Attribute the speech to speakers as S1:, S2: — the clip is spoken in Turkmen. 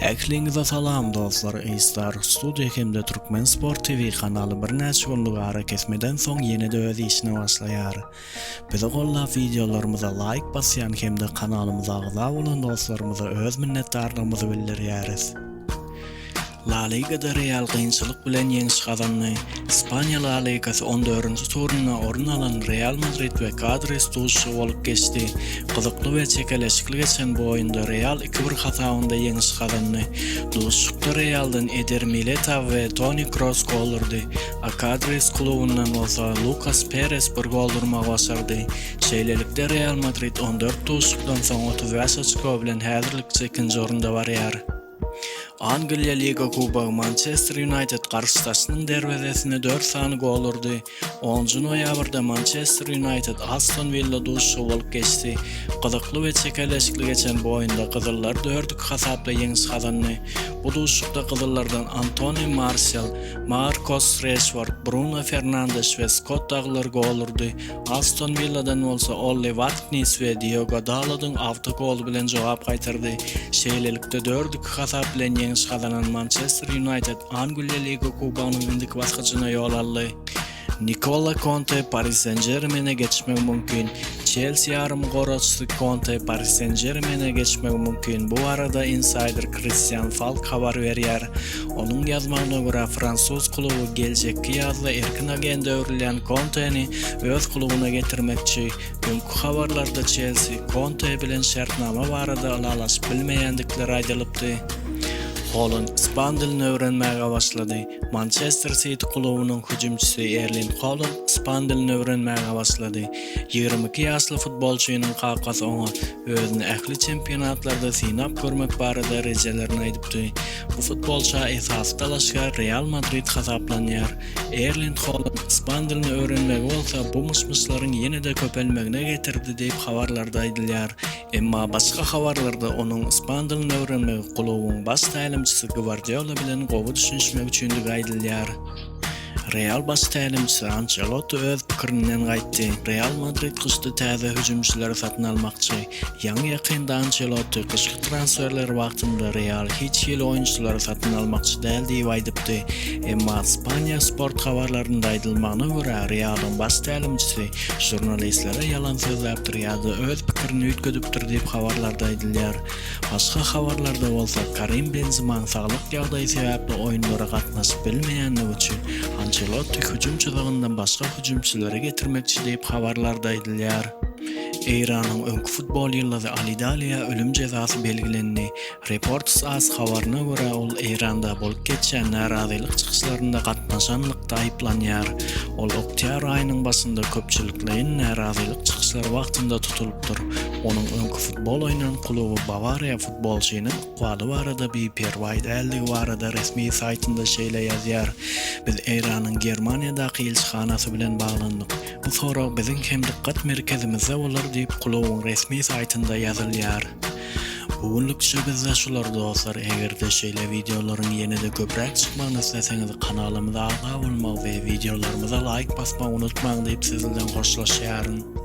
S1: Ähliňize salam dostlar Eýstar Studio hemde Türkmen Sport TV kanaly birnäçe günlük arakesmeden soň ýene-de öz işine başlaýar. Bizi gollap wideolarymyza laýk basýan hemde kanalymyza agza bolan dostlarymyza öz minnetdarlygymyzy bildirýäris. La Ligada Real kynçylyk bilen ýeňiş gazandy. Ispaniýa La Ligasy on dördünji turunda orun alan Real Madrid we Kadris duşuşygy bolup geçdi. Gyzykly we çekeleşikli geçen bu oýunda Real iki bir hasabynda ýeňiş gazandy. Duşuşykda Realdan Eder Militao we Toni Kroos gol urdy, a Kadris klubundan bolsa Lukas Peres bir gol urmagy başardy. Şeýlelikde, Real Madrid on dört duşuşykdan soň otuz bäş oçko bilen häzirlikçe ikinji orunda barýar. Angliýa Liga Kubogy Mançester Ýunaýted garşydaşynyň derwezesine dört sany gol urdy. Onunjy noýabrda Mançester Ýunaýted Aston Willa duşuşygy bolup geçdi. Gyzykly we çekeleşikli geçen bu oýunda gyzyllar dört-iki hasapda ýeňiş gazandy. Bu duşuşykda gyzyllardan Antoni Marsial, Markos Reşford, Bruno Fernandeş we Skott Daglar gol urdy. Aston Willadan bolsa Olli Warknis we Diogo Dalodyň awtogoly bilen jogap gaýtardy. Şeýlelikde, dört-iki hasap bilen ýeňiş gazanan Mançester Ýunaýted Angliýa Liga Kubogynyň indiki basgyjyna ýol aldy. Nikola Konte Pari Sen-Žermene geçmegi mümkin. Çelsi ýarymgoragçysy Konte Pari Sen-Žermene geçmegi mümkin. Bu barada insaýder Kristian Falk habar berýär. Onuň ýazmagyna görä, fransuz kluby geljekki ýazda erkin agent öwrülýän Konteni öz klubyna getirmekçi. Öňki habarlarda Çelsi, Konte bilen şertnama barada ylalaşyp bilmeýändikleri aýdylypdy. Holand ispan dilini öwrenmäge başlady. Mançester Siti klubynyň hüjümçisi Erling Holand ispan dilini öwrenmäge başlady. Ýigrimi iki ýaşly futbolçynyň kakasy oňa özüni ähli çempionatlarda synap görmek barada rejelerini aýdypdy. Bu futbolça esasy dalaşgär Real Madrid hasaplanýar. Erling Holand ispan dilini öwrenmegi bolsa bu myş-myşlaryň ýene-de köpelmegine getirdi diýip habarlarda aýdylýar. Emma başga habarlarda onuň ispan dilini öwrenmegi klubuň baş tälimçisi Gwardiola bilen gowy düşünişmek üçindigi aýdylýar. Real baş tälimçisi Ançelotti öz pikirinden gaýtdy. Real Madrid gyşda täze hüjümçileri satyn almakçy. Ýaňy-ýakynda Ançelotti gyşky transferler wagtynda Real hiç hili oýunçylary satyn almakçy däl diýip aýdypdy. Emma Ispaniýa sport habarlarynda aýdylmagyna görä, Realyň baş tälimçisi žurnalistlere ýalan sözläpdir ýa-da öz pikirini üýtgedipdir diýip habarlarda aýdylýar. Başga habarlarda bolsa Karim Benzemanyň saglyk ýagdaýy sebäpli oýunlara gatnaşyp bilmeýändigi üçin Ançelotti hüjüm çyzygyndan başga hüjümçileri getirmekçi diýip habarlarda aýdylýar. Eýranyň öňki futbol ýyldyzy Ali Daliýa ölüm jezasy belgilendi. Reports as habaryna görä, ol Eýranda bolup geçýän närazylyk çykyşlarynda gatnaşanlykda aýyplanýar. Ol oktýabr aýynyň başynda köpçülikleýin närazylyk çykyşlary wagtynda tutulypdyr. Onuň öňki futbol oýnan kluby Bawariýa futbolçynyň ykbaly barada biperwaý däldigi barada resmi saýtynda şeýle ýazýar, Biz Eýranyň Germaniýadaky ilçihanasy bilen baglandyk. Bu sorag biziň hem dykgat merkezimizde bolar diýip, klubyň resmi saýtynda ýazylýar. Bu günlükçe bizde şular dostlar, eger-de şeýle wideolaryň ýene-de köpräk çykmagyny isleseňiz kanalymyza agza bolmagy we wideolarymyza laýk basmagy unutmaň diýip sizlden hoşlaşýaryn.